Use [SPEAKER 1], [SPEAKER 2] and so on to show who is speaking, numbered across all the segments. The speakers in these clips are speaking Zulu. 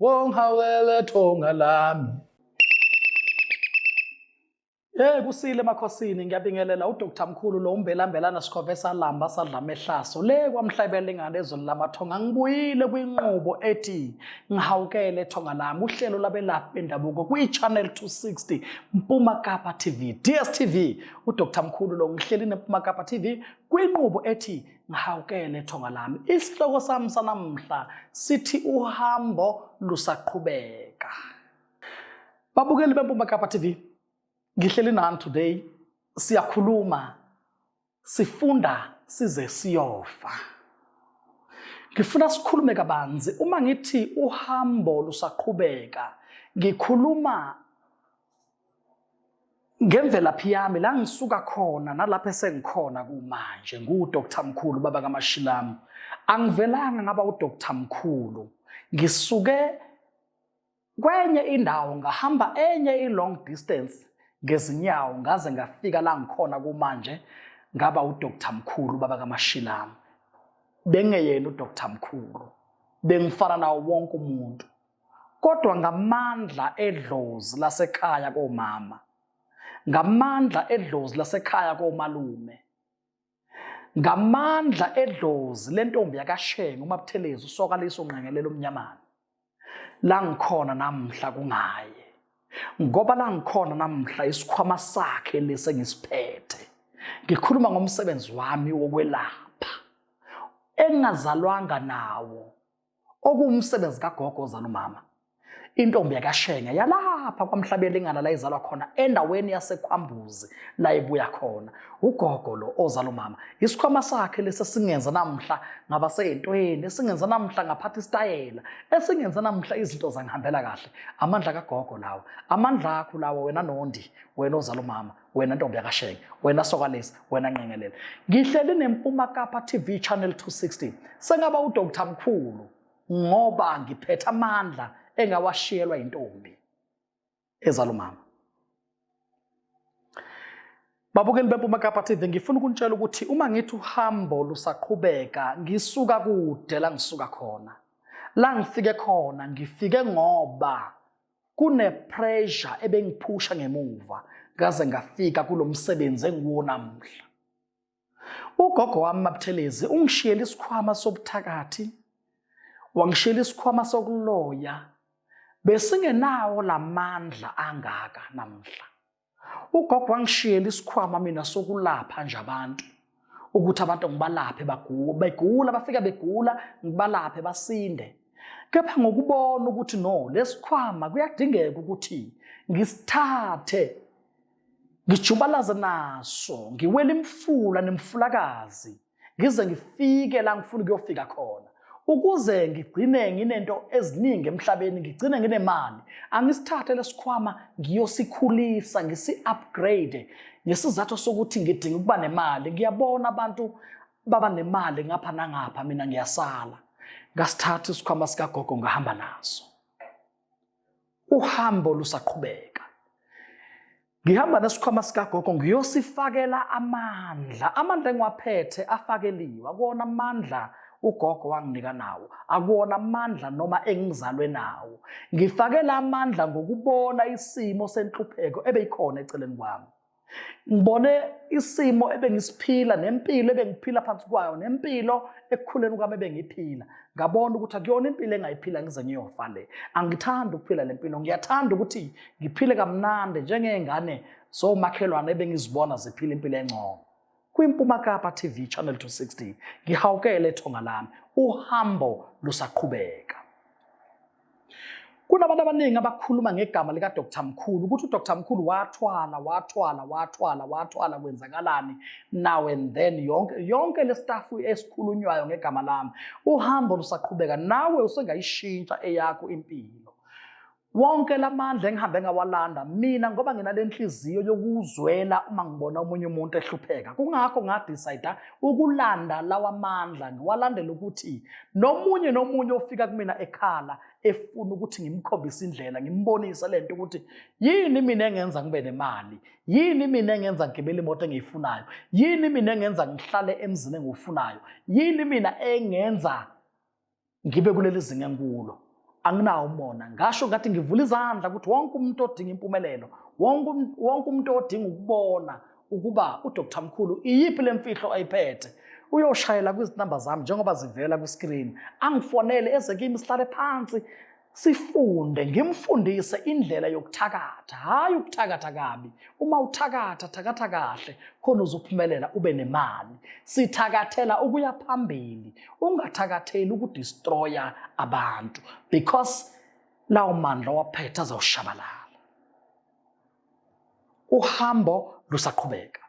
[SPEAKER 1] wongawele thonga lami Hey kusile emakhosini ngiyabingelela uDr Mkhulu lo umbelambelana sikhove salamba sadlama ehlaso le kwamhlabela ingane ezweni lamathonga ngibuyile kwinqubo ethi ngihawukele thonga lami uhlelo labelaphi bendabuko kwi-channel 260 Mpuma Kapa TV DSTV uDr Mkhulu lo ngihleli neMpuma Kapa TV kwinqubo ethi Ngihawukele thonga lami. Isihloko sami sanamuhla sithi uhambo lusaqhubeka. Babukeli beMpuma Kapa TV, ngihleli nani today. Siyakhuluma, sifunda size siyofa. Ngifuna sikhulume kabanzi uma ngithi uhambo lusaqhubeka. Ngikhuluma Ngemvelaphi yami la ngisuka khona nalapho esengikhona kumanje ngiwuDr Mkhulu baba kaMashilamu angivelanga ngaba uDr Mkhulu ngisuke kwenye indawo ngahamba enye i-long distance ngezinyawo ngaze ngafika la ngikhona kumanje ngaba uDr Mkhulu baba kaMashilamu bengeyena uDr Mkhulu bengifana nawo wonke umuntu kodwa ngamandla edlozi lasekhaya komama ngamandla edlozi lasekhaya komalume ngamandla edlozi lentombi yakashenga umabuthelezi usokaliso unqengelela umnyamana la ngikhona namhla kungaye ngoba la ngikhona namhla isikhwama sakhe lesi engisiphethe ngikhuluma ngomsebenzi wami wokwelapha engingazalwanga nawo okuwumsebenzi kagogo ozala umama intombi yakashenge yalapha kwamhlabelingana la izalwa khona endaweni yasekhwambuzi la ibuya khona ugogo lo ozala umama isikhwama sakhe lesi esingenza namhla ngaba seyintweni esingenza namhla ngaphatha isitayela esingenza namhla izinto zangihambela kahle amandla kagogo lawo amandla akho lawo wena nondi wena ozala umama wena ntombi yakashenge wena sokalesi wena nqengelele ngihleli nempuma kapa tv channel 260 sengaba udr mkhulu ngoba ngiphethe amandla engawashiyelwa yintombi ezala umama babukeli bempuma kapa tv ngifuna ukunitshela ukuthi uma ngithi uhambo lusaqhubeka ngisuka kude la ngisuka khona la ngifike khona ngifike ngoba kunepressure ebengiphusha ngemuva ngaze ngafika kulo msebenzi engiwo namuhla ugogo wami mabuthelezi ungishiyela isikhwama sobuthakathi wangishiyela isikhwama sokuloya besingenawo lamandla angaka namhla ugogo wangishiyela isikhwama mina sokulapha nje abantu ukuthi abantu ngibalaphe begula bafika begula ngibalaphe basinde kepha ngokubona ukuthi no lesikhwama kuyadingeka ukuthi ngisithathe ngijubalaze naso ngiwele imfula nemfulakazi ngize ngifike la ngifuna ukuyofika khona ukuze ngigcine nginento eziningi emhlabeni ngigcine nginemali angisithathe lesikhwama ngiyosikhulisa ngisi-upgrade ngesizathu sokuthi ngidinga ukuba nemali ngiyabona abantu baba nemali ngapha nangapha mina ngiyasala ngasithatha isikhwama sikagogo ngahamba naso uhambo lusaqhubeka ngihamba nesikhwama sikagogo ngiyosifakela amandla amandla engiwaphethe afakeliwe akuwona amandla ugogo wanginika nawo akuwona amandla noma engizalwe nawo ngifakela amandla ngokubona isimo senhlupheko ebeyikhona eceleni kwami ngibone isimo ebengisiphila nempilo ebengiphila phansi kwayo nempilo ekukhuleni kwami ebengiphila ngabona ukuthi akuyona impilo engayiphila ngize ngiyofa le angithandi ukuphila le mpilo ngiyathanda ukuthi ngiphile kamnandi njengey'ngane zomakhelwane ebengizibona ziphila impilo engcono KwiMpuma Kapa TV Channel 260 ngihawukele ethonga lami uhambo lusaqhubeka Kunabantu abaningi abakhuluma ngegama lika Dr Mkhulu ukuthi uDr Mkhulu wathwala wathwala wathwala wathwala kwenzakalani now and then yonke yonke le staff esikhulunywayo ngegama lami uhambo lusaqhubeka nawe usengayishintsha eyakho impilo Wonke lamandla engihambe ngawalanda mina ngoba nginalenhliziyo yokuzwela uma ngibona omunye umuntu ehlupheka. Kungakho ngadecide ukulanda lawa mandla ngiwalandela ukuthi nomunye nomunye ofika kumina ekhala efuna ukuthi ngimkhombise indlela, ngimbonise lento ukuthi yini mina engenza ngibe nemali, yini mina engenza ngigibele imoto engiyifunayo, yini mina engenza ngihlale emzini engiwufunayo, yini mina engenza ngibe kuleli zinga engikulo anginawo umona ngasho ngathi ngivula izandla ukuthi wonke umuntu odinga impumelelo wonke um, wonke umuntu odinga ukubona ukuba uDr Mkhulu iyiphi lemfihlo ayiphethe uyoshayela kwizinamba zami njengoba zivela kwiskrini angifonele eze kimi sihlale phansi sifunde ngimfundise indlela yokuthakatha hhayi ukuthakatha kabi uma uthakatha thakatha kahle khona uzophumelela ube nemali sithakathela ukuya phambili ungathakatheli ukudistroya abantu because lawo mandla waphetha azawushabalala uhambo lusaqhubeka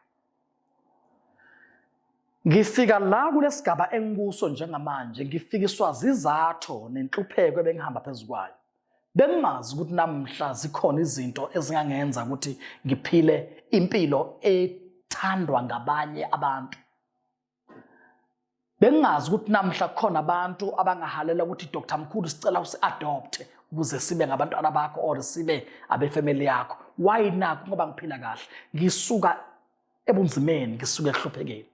[SPEAKER 1] Ngifika la kulesigaba engikuso njengamanje ngifikiswa zizatho nenhlupheko ebengihamba phezukwayo. Bengimazi ukuthi namhla zikhona izinto ezingangenza ukuthi ngiphile impilo ethandwa ngabanye abantu. bengingazi ukuthi namhla kukhona abantu abangahalela ukuthi dr mkhulu sicela usi-adopte ukuze sibe ngabantwana bakho or sibe abefamily yakho why naku ngoba ngiphila kahle ngisuka ebunzimeni ngisuka ekuhluphekeni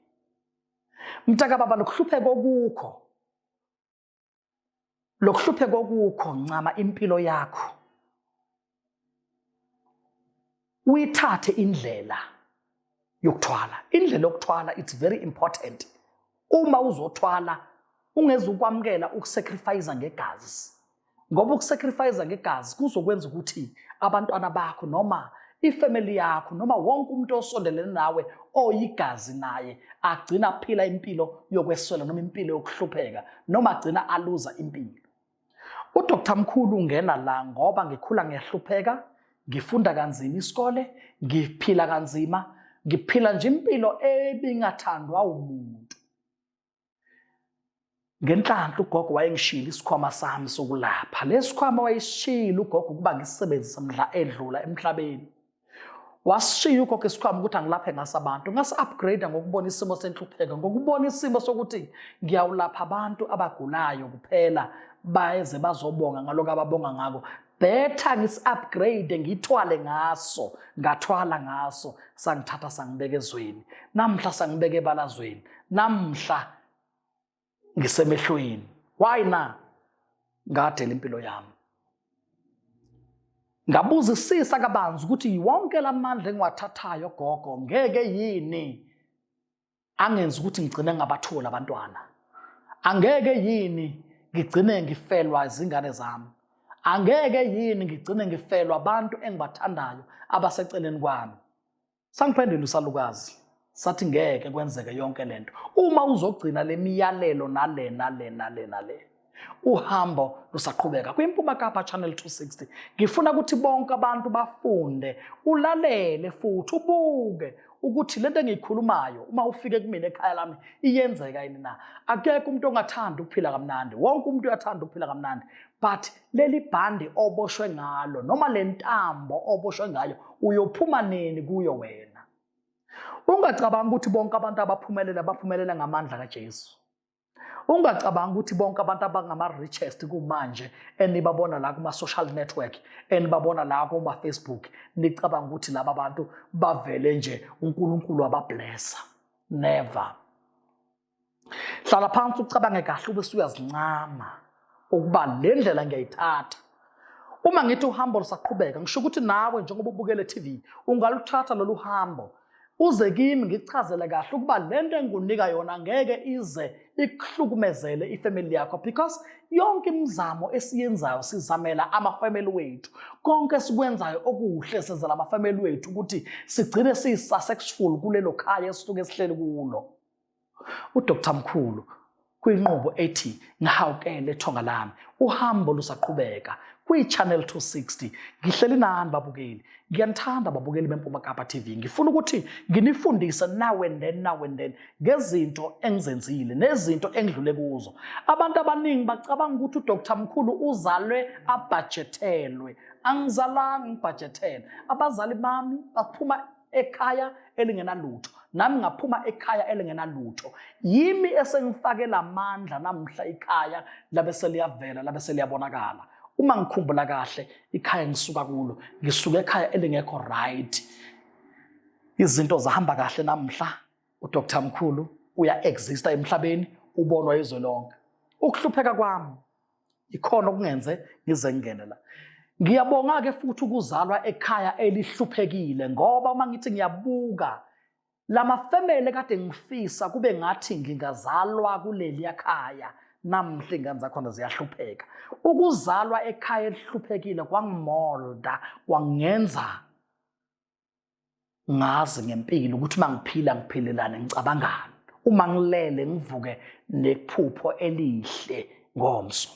[SPEAKER 1] mntaka baba lokuhlupheka okukho lokuhlupheka okukho ncama impilo yakho uyithathe indlela yokuthwala indlela yokuthwala it's very important uma uzothwala ungezukwamukela ukusacrifice ngegazi ngoba ukusacrifice ngegazi kuzokwenza ukuthi abantwana bakho noma ifamily yakho noma wonke umuntu osondelene nawe oyigazi naye agcina aphila impilo yokweswela noma impilo yokuhlupheka noma agcina aluza impilo uDr Mkhulu ungena la ngoba ngikhula ngiyahlupheka ngifunda kanzima isikole ngiphila kanzima ngiphila nje impilo ebingathandwa umuntu ngenhlanhla ugogo wayengishiyile isikhwama sami sokulapha lesi khwama wayesishiyile ugogo ukuba ngisebenzise mdla edlula emhlabeni wasishiya ugogo isikhwama ukuthi angilaphe ngaso abantu ngasi-upgrade ngokubona isimo senhlupheko ngokubona isimo sokuthi ngiyawulapha abantu abagulayo kuphela baze bazobonga ngaloko ababonga ngako better ngisi-upgrade ngithwale ngaso ngathwala ngaso sangithatha sangibeka ezweni namhla sangibeka ebalazweni namhla ngisemehlweni why na ngadela impilo yami ngabuzisisa kabanzi ukuthi wonke lamandla engiwathathayo gogo ngeke yini angenza ukuthi ngigcine ngabatholi abantwana angeke yini ngigcine ngifelwa izingane zami angeke yini ngigcine ngifelwa abantu engibathandayo abaseceleni kwami sangiphendula usalukazi sathi ngeke kwenzeke yonke lento uma uzogcina lemiyalelo nale nale nale nale uhambo lusaqhubeka kwimpuma kapa channel 260 ngifuna ukuthi bonke abantu bafunde ulalele futhi ubuke ukuthi lento engiyikhulumayo uma ufike kumina ekhaya lami iyenzeka yini na akekho umuntu ongathanda ukuphila kamnandi wonke umuntu uyathanda ukuphila kamnandi but leli bhandi oboshwe ngalo noma le ntambo oboshwe ngayo uyophuma nini kuyo wena ungacabangi ukuthi bonke abantu abaphumelela baphumelela ngamandla kaJesu ungacabanga ukuthi bonke abantu abangama-richest kumanje enibabona la kuma-social network enibabona la kuma-facebook nicabanga ukuthi laba bantu bavele nje unkulunkulu abablessa never hlala phansi ucabange kahle ube suyazincama ukuba le ndlela ngiyayithatha uma ngithi uhambo lusaqhubeka ngisho ukuthi nawe njengoba ubukele TV ungaluthatha lolu hambo uze kimi ngichazele kahle ukuba le nto engikunika yona ngeke ize ikuhlukumezele ifamily yakho because yonke imizamo esiyenzayo sizamela amafamily wethu konke esikwenzayo okuhle senzela amafamily wethu ukuthi sigcine siyi-successful kulelo khaya esisuke esihleli kulo UDr Mkhulu kwinqubo ethi ngihawukele ethonga lami uhambo lusaqhubeka kwi-channel 260 ngihleli nani babukeli ngiyanithanda babukeli bempuma kapa tv ngifuna ukuthi nginifundise now and then now and then ngezinto engizenzile nezinto engidlule kuzo abantu abaningi bacabanga ukuthi udr mkhulu uzalwe abhajethelwe angizalanga ngibhajethelwe abazali bami baphuma ekhaya elingenalutho nami ngaphuma ekhaya elingenalutho yimi esengifakela amandla namhla ikhaya labe seliyavela labe seliyabonakala uma ngikhumbula kahle ikhaya ngisuka kulo ngisuka ekhaya elingekho right izinto zahamba kahle namhla uDr Mkhulu uya exista emhlabeni ubonwa izwe lonke ukuhlupheka kwami ikhona okungenze ngize ngingene la ngiyabonga-ke futhi ukuzalwa ekhaya elihluphekile ngoba uma ngithi ngiyabuka la mafemele kade ngifisa kube ngathi ngingazalwa kuleliya khaya namhle ingane zakhona ziyahlupheka ukuzalwa ekhaya elihluphekile kwangimolda kwangenza ngazi ngempilo ukuthi uma ngiphila ngiphelelane ngicabangani uma ngilele ngivuke nephupho elihle ngomso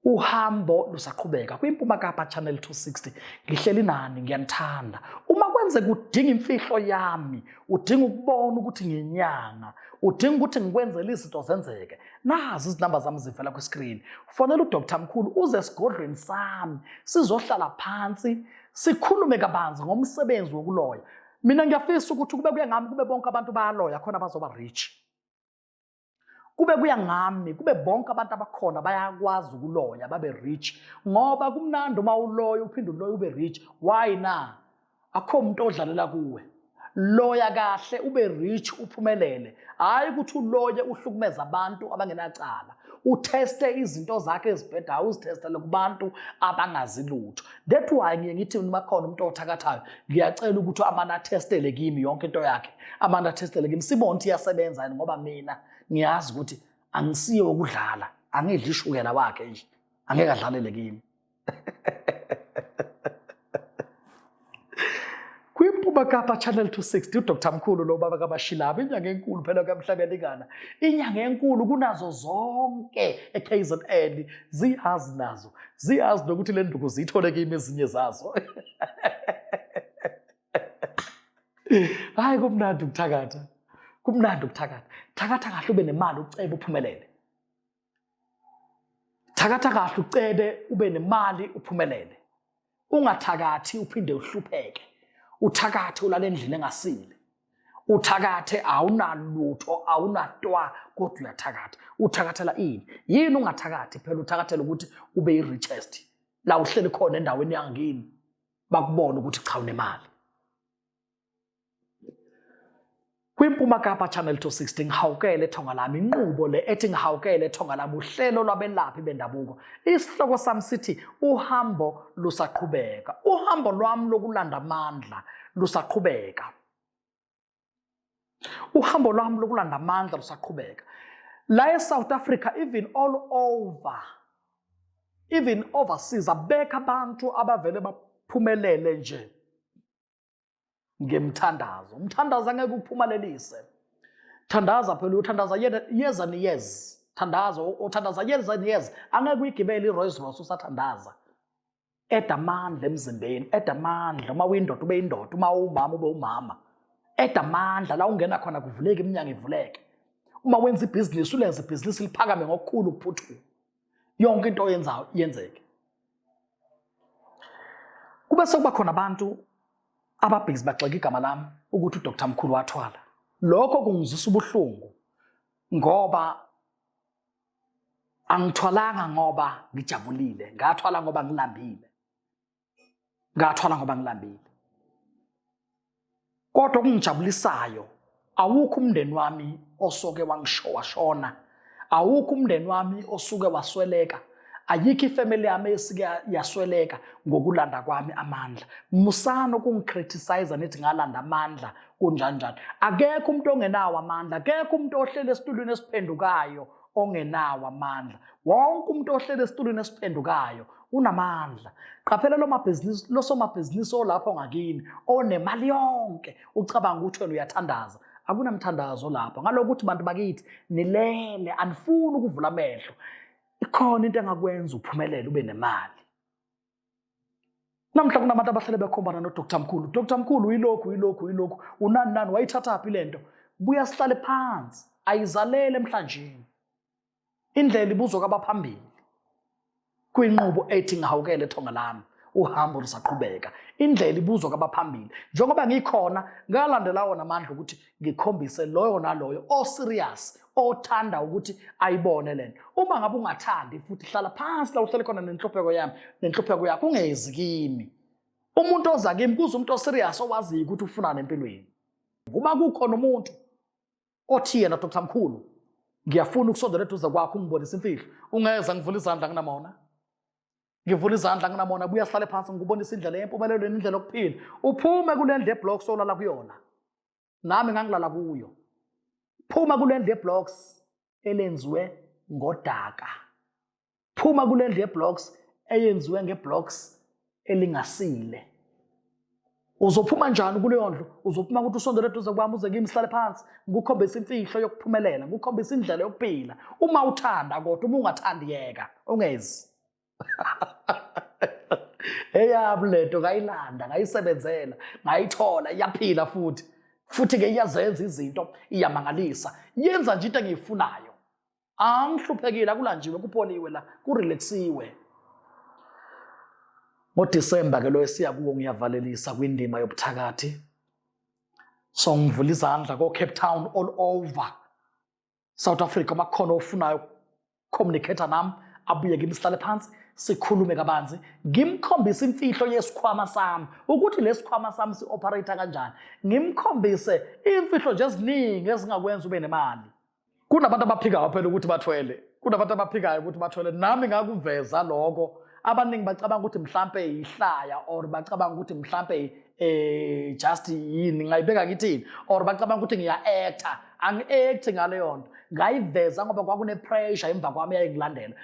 [SPEAKER 1] uhambo lusaqhubeka kwimpuma kapa channel 260 ngihleli nani ngiyanithanda uma kwenze kudinga imfihlo yami udinga ukubona ukuthi nginyanga udinga ukuthi ngikwenzele izinto zenzeke nazi izinamba zami zivela kwiscreen fonela udr mkhulu uze esigodlweni sami sizohlala phansi sikhulume kabanzi ngomsebenzi wokuloya mina ngiyafisa ukuthi kube kuya ngami kube bonke abantu bayaloya khona bazoba rich kube kuya ngami kube bonke abantu abakhona bayakwazi ukuloya babe rich ngoba kumnandi uma uloya uphinde uloya ube rich why na akho umuntu odlalela kuwe loya kahle ube rich uphumelele hayi ukuthi uloye uhlukumeza abantu abangenacala utheste izinto zakhe ezibhedayo uzithestele kubantu abangazi lutho that why ngiye ngithi noma khona umuntu othakathayo ngiyacela ukuthi amane athestele kimi yonke into yakhe amane athestele kimi sibone ukuthi iyasebenza yini ngoba mina ngiyazi ukuthi angisiye wokudlala angidli ishukela wakhe nje angeke adlalele kimi kwimpuma kapa channel 260 udr mkhulu lo baba kabashilaba inyanga enkulu phela kamhlabelingana inyanga enkulu kunazo zonke ekzn ziyazi nazo ziyazi nokuthi le nduku ziyithole kimi ezinye zazo hayi kumnandi ukuthakatha kumnandi ukuthakatha thakatha kahle ube nemali ucebe uphumelele Thakatha kahle ucebe ube nemali uphumelele. Ungathakathi uphinde uhlupheke. Uthakathe ulale endlini engasile. Uthakathe awunalutho awunatwa kodwa uyathakatha. Uthakathela ini? Yini ungathakathi phela uthakathela ukuthi ube yi richest. La uhleli khona endaweni yangini bakubona ukuthi cha unemali. KwiMpuma Kapa Channel 260 ngihawukele ethonga lami inqubo le ethi ngihawukele ethonga lami uhlelo lwabelaphi bendabuko. Isihloko sami sithi uhambo lusaqhubeka. Uhambo lwami lokulanda amandla lusaqhubeka. Uhambo lwami lokulanda amandla lusaqhubeka. La eSouth Africa even all over even overseas abekho abantu abavele baphumelele nje ngemthandazo umthandazo angeke ukuphumalelise thandaza phela uyothandaza years and years thandaza uthandaza years and years angeke uyigibele i-rolls royce usathandaza eda amandla emzimbeni eda amandla uma uyindoda ube yindoda uma uwumama ube umama eda amandla la ungena khona kuvuleke iminyango ivuleke uma wenza ibhizinisi ulenza ibhizinisi liphakame ngokukhulu ukuphuthuma yonke into oyenzayo iyenzeke kube sokuba khona abantu ababhizi bagxeka igama lami ukuthi udr mkhulu wathwala lokho kungizwisa ubuhlungu ngoba angithwalanga ngoba ngijabulile ngathwala ngoba ngilambile ngathwala ngoba ngilambile kodwa okungijabulisayo awukho umndeni wami osoke wangishowashona awukho umndeni wami osuke wasweleka ayikho ifamily yami esike yasweleka ngokulanda kwami amandla musani ukungicriticize nithi ngalanda amandla kunjanjani akekho umuntu ongenawo amandla akekho umuntu ohlele esitulweni esiphendukayo ongenawo amandla wonke umuntu ohlele esitulweni esiphendukayo unamandla qaphela lo mabhizinisi losomabhizinisi olapho ngakini onemali yonke ucabanga ukuthi wena uyathandaza akunamthandazo lapha ngalokho ukuthi bantu bakithi nilele anifuni ukuvula amehlo ikhona into engakwenza uphumelele ube nemali namhla kunabantu abahlele bekhombana nodr mkhulu dr mkhulu uyilokhu uyilokhu uyilokhu unani nani wayithathaphi le nto buya sihlale phansi ayizalele emhlanjeni indlela ibuzwa kwabaphambili kwinqubo ethi ngihawukele thonga lami uhambo lusaqhubeka indlela ibuzwa kwabaphambili njengoba ngikhona ngalandela wona amandla ukuthi ngikhombise loyo naloyo oserious othanda ukuthi ayibone lento uma ngabe ungathandi futhi hlala phansi la uhlele khona nenhlupheko yami nenhlupheko yakho ungezi kimi umuntu oza kimi kuze umuntu oserious owaziyo ukuthi ufunani empilweni uma kukhona umuntu othi yena dr mkhulu ngiyafuna ukusondela eduze kwakho ungibonise imfihlo ungeza ngivula izandla nginamona ngivula izandla nginamona buya sihlale phansi ngikubonisa indlela yempumelelo nendlela yokuphila uphume kule ndlu yeblocks olala kuyona nami ngangilala kuyo phuma kule ndlu yeblocks elenziwe ngodaka phuma kule ndlu yeblocks eyenziwe ngeblocks elingasile uzophuma njani kuleyo ndlu uzophuma ukuthi usondele eduze kwami uze kimi sihlale phansi ngikukhombisa imfihlo yokuphumelela ngikukhombisa indlela yokuphila uma uthanda kodwa uma ungathandi yeka ungezi eyami lento ngayilanda ngayisebenzela ngayithola iyaphila futhi futhi-ke iyazenza izinto iyamangalisa yenza nje into engiyifunayo angihluphekile akulanjiwe kupoliwe la kurelaxiwe ngoDisemba ke lo esiya kuwo ngiyavalelisa kwindima yobuthakathi so ngivula izandla ko Cape Town all over South Africa makhona ofunayo communicator nami abuye kimi sihlale phansi sikhulume kabanzi ngimkhombise imfihlo yesikhwama sami ukuthi lesikhwama sami sioperate kanjani ngimkhombise imfihlo nje eziningi ezingakwenza ube nemali kunabantu abaphikayo phela ukuthi bathwele kunabantu abaphikayo ukuthi bathwele nami ngakuveza lokho abaningi bacabanga ukuthi mhlampe yihlaya or bacabanga ukuthi mhlampe eh just yini ngayibeka ngithini or bacabanga ukuthi ngiya actor angi-act ngaleyo nto ngayiveza ngoba kwakune-pressure emva kwami yayingilandela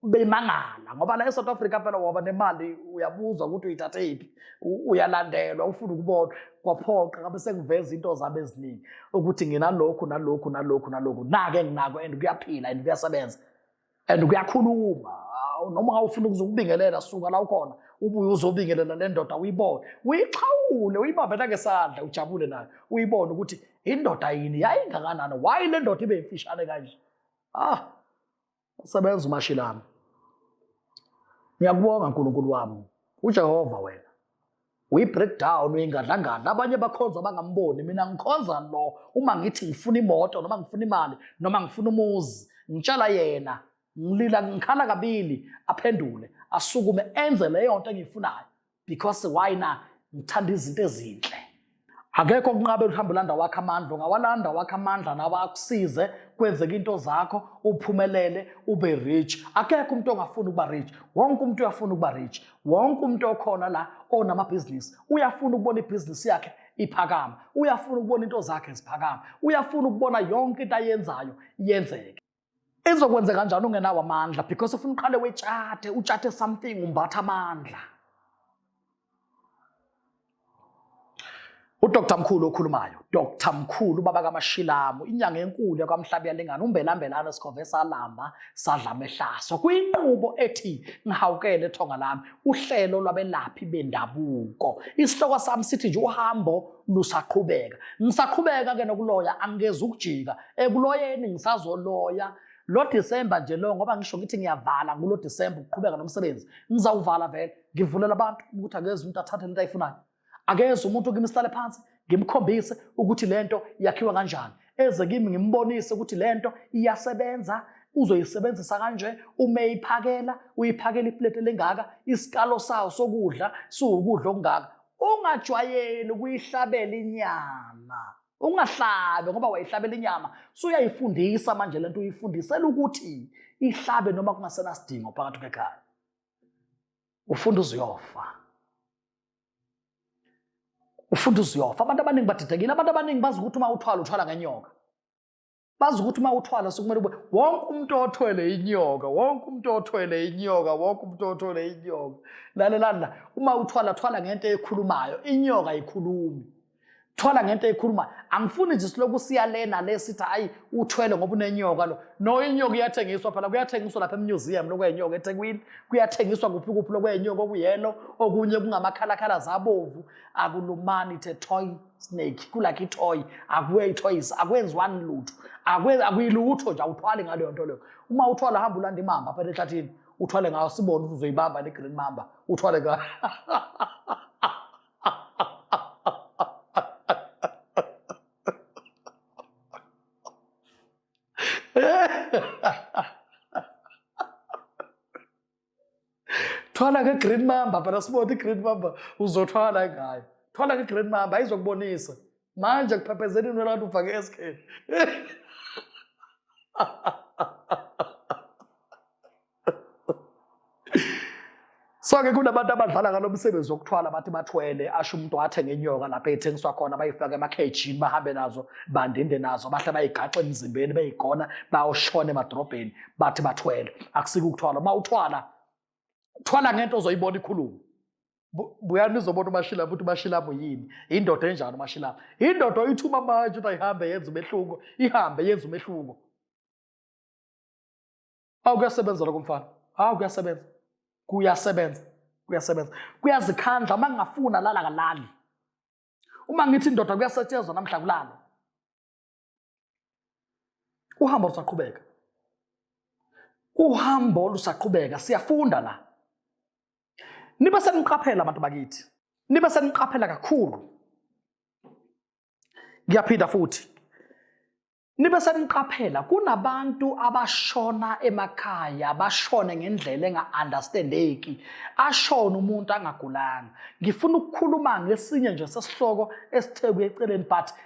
[SPEAKER 1] bemangala ngoba la eSouth Africa phela waba nemali uyabuzwa ukuthi uyithathephi uyalandelwa ufuna ukubona kwaphoqa ngabe sengiveza into zami eziningi ukuthi nginalokhu nalokhu nalokhu nalokhu nake enginako and kuyaphila and kuyasebenza and kuyakhuluma noma ufuna ukuzokubingelela suka la ukhona ubuye uzobingelela le ndoda uyibone uyixhawule uyibambe nangesandla ujabule nayo uyibone ukuthi indoda yini yayingakanani why le ndoda ibe imfishane kanje ah usebenza uMashilami ngiyakubonga uNkulunkulu wami uJehova wena uyi-breakdown uyingadlangadla abanye bakhonza bangamboni mina ngikhonza lo uma ngithi ngifuna imoto noma ngifuna imali noma ngifuna umuzi ngitshala yena ngilila ngikhala kabili aphendule asukume enze leyo nto engiyifunayo because why na ngithanda izinto ezinhle akekho okunqabela uhambe ulanda wakho amandla ungawalanda wakho amandla nawe akusize kwenzeka into zakho uphumelele ube rich akekho umuntu ongafuni ukuba rich wonke umuntu uyafuna ukuba rich wonke umuntu okhona la onamabhizinisi uyafuna ukubona ibhizinisi yakhe iphakama uyafuna ukubona into zakhe ziphakama uyafuna ukubona yonke into ayenzayo yenzeke izokwenze kanjani ungenawo amandla because ufuna uqale wetshathe utshathe something umbatha amandla udr mkhulu okhulumayo dr mkhulu ubaba kamashilamu inyanga enkulu yakwamhlabi yalingana umbelambelane sikhove salamba sadla mehlaso kwinqubo ethi ngihawukele ethonga lami uhlelo lwabelaphi bendabuko isihloko sami sithi nje uhambo lusaqhubeka ngisaqhubeka ke nokuloya angikezi ukujika ekuloyeni ngisazoloya lo December nje lo ngoba ngisho ngithi ngiyavala kulo December ukuqhubeka nomsebenzi ngizawuvala vele ngivulela abantu ukuthi akeze umuntu athathe lento ayifunayo akeze umuntu kimi sihlale phansi ngimkhombise ukuthi lento yakhiwa kanjani eze kimi ngimbonise ukuthi lento iyasebenza uzoyisebenzisa kanje uma eyiphakela uyiphakela iplate lengaka isikalo sawo sokudla siwukudla okungaka ungajwayeli ukuyihlabela inyama ungahlabe ngoba wayihlabela inyama suyayifundisa manje lento uyifundisela ukuthi ihlabe noma kungasenasidingo phakathi kwekhaya ufunda uziyofa ufunda uziyofa abantu abaningi badidekile abantu abaningi bazi ukuthi uma uthwala uthwala ngenyoka bazi ukuthi uma uthwala sokumele ube wonke umuntu othwele inyoka wonke umuntu othwele inyoka wonke umuntu othwele inyoka lalelani la uma uthwala thwala ngento ekhulumayo inyoka ayikhulumi thwala ngento ekhulumayo angifuni nje siloku siya lena le sithi hayi uthwele ngoba unenyoka lo no inyoka iyathengiswa phela kuyathengiswa lapha emuseum lokwenyoka ethekwini kuyathengiswa kuphi kuphi lokwenyoka okuyelo okunye kungamakhalakhala zabovu akulumani the toy snake kulakho itoy akuye itoys akwenziwani lutho akuyilutho nje awuthwali ngaleyo nto leyo uma uthwala hamba ulanda imamba apha ehlathini uthwale ngayo sibone ukuthi uzoyibamba ne-green mamba uthwale ngayo thwala nge-green mamba phela sibone i-green mamba uzothwala ngayo thwala nge-green mamba ayizokubonisa manje kuphephezela into labantu ufake esikheni so-ke kunabantu abadlala ngalo msebenzi wokuthwala bathi bathwele asho umuntu athe ngenyoka lapho ethengiswa khona bayifake emakhejini bahambe nazo bandinde nazo bahle bayigaxe emzimbeni beyigona bayoshona emadorobheni bathi bathwele akusike ukuthwala uma uthwala thwala ngento ozoyibona ikhulume buyani nizobona umashila ukuthi umashilabo yini indoda enjani umashilabo indoda oyithuma manje ukuthi ayihambe yenza umehluko ihambe yenza umehluko awu kuyasebenza lokho mfana awu kuyasebenza kuyasebenza kuyasebenza kuyazikhandla uma ngingafuna lala kalali uma ngithi indoda kuyasetshenzwa namhla kulalo uhambo lusaqhubeka uhambo lusaqhubeka siyafunda la nibe seniqaphela abantu bakithi nibe seniqaphela kakhulu ngiyaphinda futhi nibe seniqaphela kunabantu abashona emakhaya bashone ngendlela enga-understandeki ashona umuntu angagulanga ngifuna ukukhuluma ngesinye nje sesihloko esithe kuyeceleni but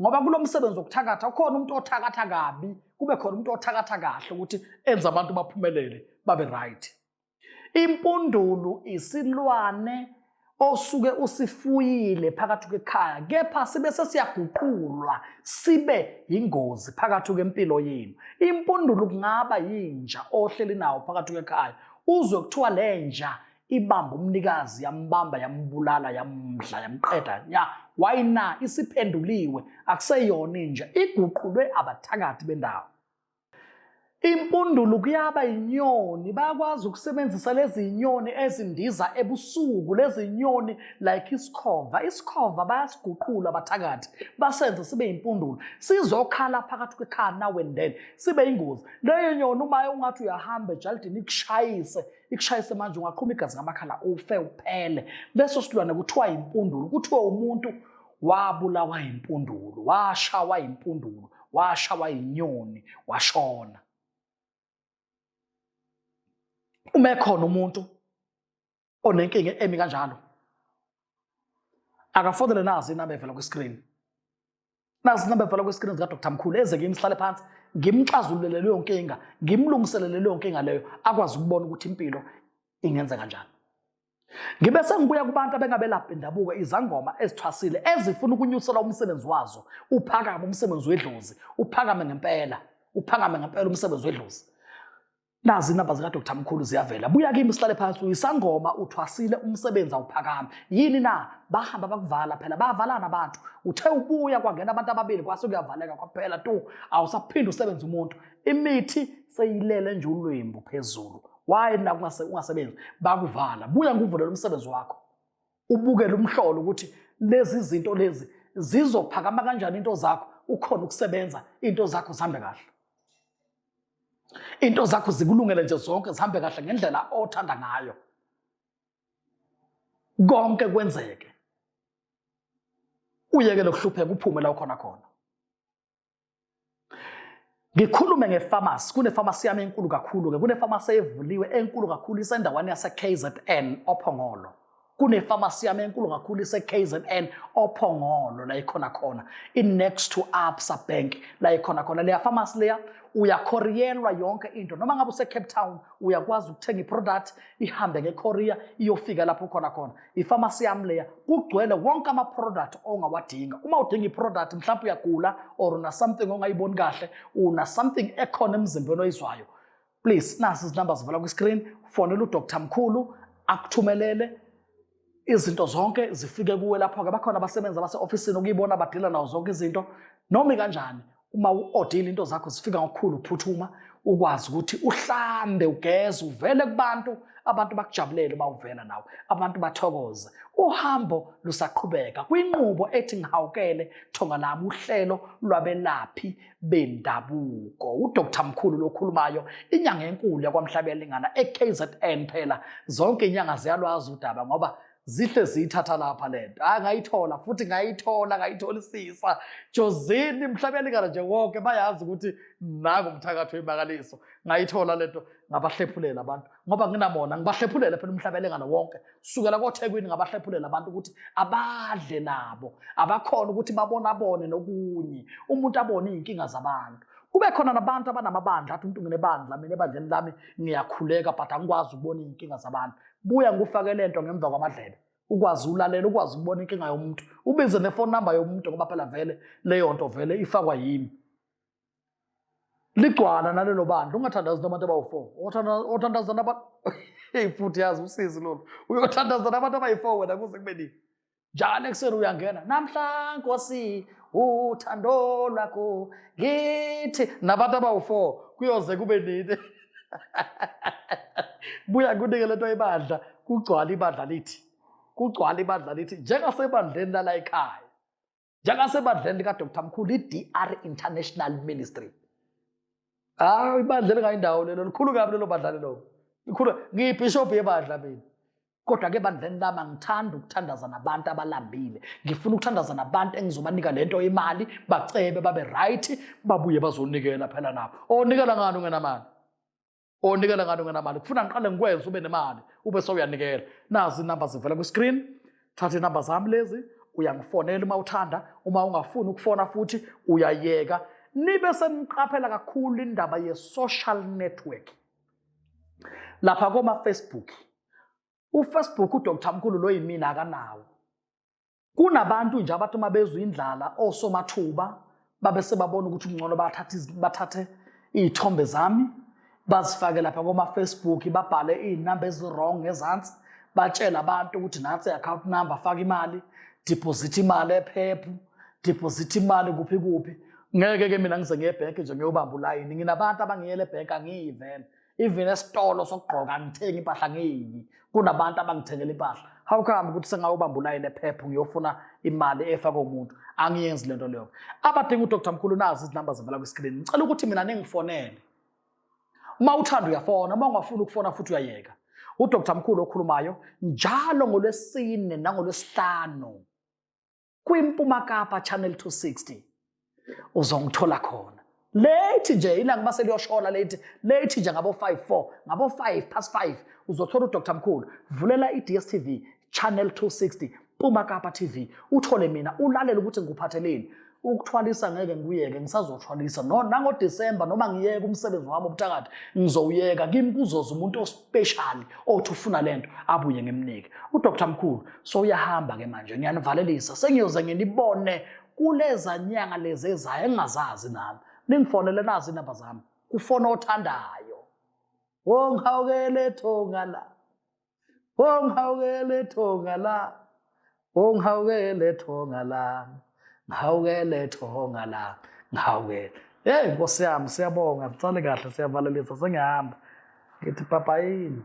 [SPEAKER 1] ngoba kulo msebenzi wokuthakatha ukhona umuntu othakatha kabi kube khona umuntu othakatha kahle ukuthi enze abantu baphumelele babe right impundulu isilwane osuke usifuyile phakathi kwekhaya kepha sibe sesiyaguqulwa sibe yingozi phakathi kwempilo yenu impundulu kungaba yinja ohleli nawo phakathi kwekhaya uzwe kuthiwa lenja ibamba umnikazi yambamba yambulala yamdla yamqeda ya why na isiphenduliwe akuseyona inja iguqulwe abathakathi bendawo impundulu kuyaba inyoni bayakwazi ukusebenzisa lezi nyoni ezindiza ebusuku lezi nyoni like isikhova isikhova bayasiguqula abathakathi basenze sibe impundulu sizokhala phakathi kwekhaya nawe ndene sibe ingozi leyo nyoni uma ungathi uyahamba ejalidini ikushayise ikushayise manje ungaqhuma igazi ngamakhala ufe uphele leso silwane kuthiwa yimpundulu kuthiwa umuntu wabulawa yimpundulu washawa yimpundulu washawa yinyoni washona uma ekhona umuntu onenkinga emi kanjalo akafonele nazi inamba evela kwi-screen nazi inamba evala kwesikrini zikadr mkhulu eze kimi sihlale phansi ngimxazululele leyo nkinga ngimlungiselele leyo nkinga leyo akwazi ukubona ukuthi impilo ingenze kanjani ngibe sengibuya kubantu abengabelaphi bendabuko izangoma ezithwasile ezifuna ukunyusela umsebenzi wazo uphakame umsebenzi wedlozi uphakame ngempela uphakame ngempela umsebenzi wedlozi nazi inamba zikadr mkhulu ziyavela buya kimi sihlale phansi uyisangoma uthwasile umsebenzi awuphakami yini na bahamba bakuvala phela bayavalana abantu uthe ubuya kwangena abantu ababili kwase kuyavaleka kwaphela tu awusaphinde usebenze umuntu imithi seyilele nje ulwembu phezulu waye na ungasebenzi bakuvala buya nguvulele umsebenzi wakho ubukele umhlolo ukuthi lezi zinto lezi zizophakama kanjani into zakho ukhona ukusebenza into zakho zihambe kahle Into zakho zikulungele nje zonke zihambe kahle ngendlela othanda ngayo. Konke kwenzeke. Uyeke lokuhlupheka uphume la ukhona khona. Ngikhulume ngefamasi, kunefamasi yami enkulu kakhulu-ke, kunefamasi evuliwe enkulu kakhulu isendaweni yase-KZN oPhongolo. kunefamasi yami enkulu kakhulu ise-kzn ophongolo la ikhona khona i-next to absa bank la ikhona khona leya famasi leya uyakhoriyelwa yonke into noma ngabe usecape town uyakwazi ukuthenga iproduct ihambe ngekorea iyofika lapho ukhona khona ifamasi yami leya kugcwele wonke amaproduct ongawadinga uma udinga iproduct mhlawumpe uyagula or una something ongayiboni kahle una something ekhona emzimbeni oyizwayo please nasi izinamba zivela kwi-screen fonela udr mkhulu akuthumelele izinto zonke zifike kuwe lapho-ke bakhona abasebenzi abase-ofisini okuyibona badila nawo zonke izinto noma ikanjani uma u-odile into zakho zifika ngokukhulu ukuphuthuma ukwazi ukuthi uhlambe ugeze uvele kubantu abantu bakujabulele uma uvela nawe abantu bathokoze uhambo lusaqhubeka kwinqubo ethi ngihawukele thonga lami uhlelo lwabelaphi bendabuko uDr Mkhulu lokhulumayo inyanga enkulu yakwamhlabelingana eKZN phela zonke inyanga ziyalwazi udaba ngoba zihle ziyithatha lapha lento hayi ngayithola futhi ngayithola ngayitholisisa jozini mhlabelingana nje wonke bayazi ukuthi naku umthakathi wemangaliso ngayithola lento ngabahlephulela abantu ngoba nginabona ngibahlephulela phela umhlabelengana wonke sukela kothekwini ngabahlephulela abantu ukuthi abadle nabo abakhona ukuthi babonabone nokunye umuntu abone iy'nkinga zabantu kube khona nabantu abanamabandla athi umuntu nginebandla mina ebandleni lami ngiyakhuleka but angikwazi ukubona iy'nkinga zabantu buya ngikufake le nto ngemva kwamadlebe ukwazi ulalela ukwazi ukubona inkinga yomuntu ubize nefoni number yomuntu ngoba phela vele leyo nto vele ifakwa yimi ligcwala nalelo bandla ungathandazi nabantu abawu-four othandaza nabantu eyi futhi yazi usizi lolu uyothandaza nabantu abayi-four wena kuze kube nini njalo ekuseni uyangena namhla nkosi uthando lwakho ngithi nabantu abawu-four kuyoze kube nini buya kunike le nto ibandla kugcwala ibandla lithi kugcwala ibandla lithi njengasebandleni lala ekhaya njengasebandleni likadr mkhulu i-dr international ministry hawu ibandla elingayindawo lelo likhulu kabi lelo badla lelo likhulu ngiyibhishobhi yebandla mina kodwa-ke bandleni lami angithandi ukuthandaza nabantu abalambile ngifuna ukuthandaza nabantu engizobanika le nto imali bacebe babe right babuye bazonikela phela nabo onikela ngani ungenamali onikela ngani ungenamali kufuna ngiqale ngikwenze ube nemali ube sewuyanikela nazi inamba zivela kwi-screen thatha inamba zami lezi uyangifonela uma uthanda uma ungafuni ukufona futhi uyayeka nibe seniqaphela kakhulu indaba ye-social network lapha koma-facebook ufacebook udr mkhulu lo yimina akanawo Kunabantu nje abathi uma bezwa indlala osomathuba babe sebabona ukuthi kungcono bathathe iy'thombe zami bazifake lapha koma-facebook babhale iy'namba ezi-wrong ngezansi batshele abantu ukuthi nansi i-account number faka imali deposit imali ephephu deposit imali kuphi kuphi ngeke-ke mina ngize ngiye ebhenki nje ngiyobamba ulayini nginabantu abangiyele ebhenki angiyivele even esitolo sokugqoka angithengi impahla ngiyiki kunabantu abangithengela impahla how come ukuthi sengayobamba ulayini ephepha ngiyofuna imali efa komuntu angiyenzi lento leyo abadinga udr mkhulu nazi izinamba zivela kwiskrini ngicela ukuthi mina ningifonele uma uthanda uyafona uma ungafuni ukufona futhi uyayeka udr mkhulu okhulumayo njalo ngolwesine nangolwesihlanu kwimpuma kapa channel 260 uzongithola khona late nje ilanga uma seliyoshola late late nje ngabo 5 4 ngabo 5 past 5 uzothola udr mkhulu vulela i-dstv channel 260 puma kapa tv uthole mina ulalele ukuthi ngikuphatheleni ukuthwalisa ngeke ngikuyeke ngisazothwalisa no nangodisemba noma ngiyeke umsebenzi wami obuthakathi ngizowuyeka kimi kuzoza umuntu special othi ufuna lento abuye ngimnike uDr Mkhulu so uyahamba ke manje ngiyanivalelisa sengiyoze nginibone kuleza nyanga lezi ezayo engazazi nami ningifonele nazi inamba zami kufona othandayo wonghawukele thonga la wonghawukele thonga la ungihawukele thonga lami ngihawukele thonga lami ngihawukele yeyi nkosi yami siyabonga sicale kahle siyavalelisa sengihamba ngithi papayini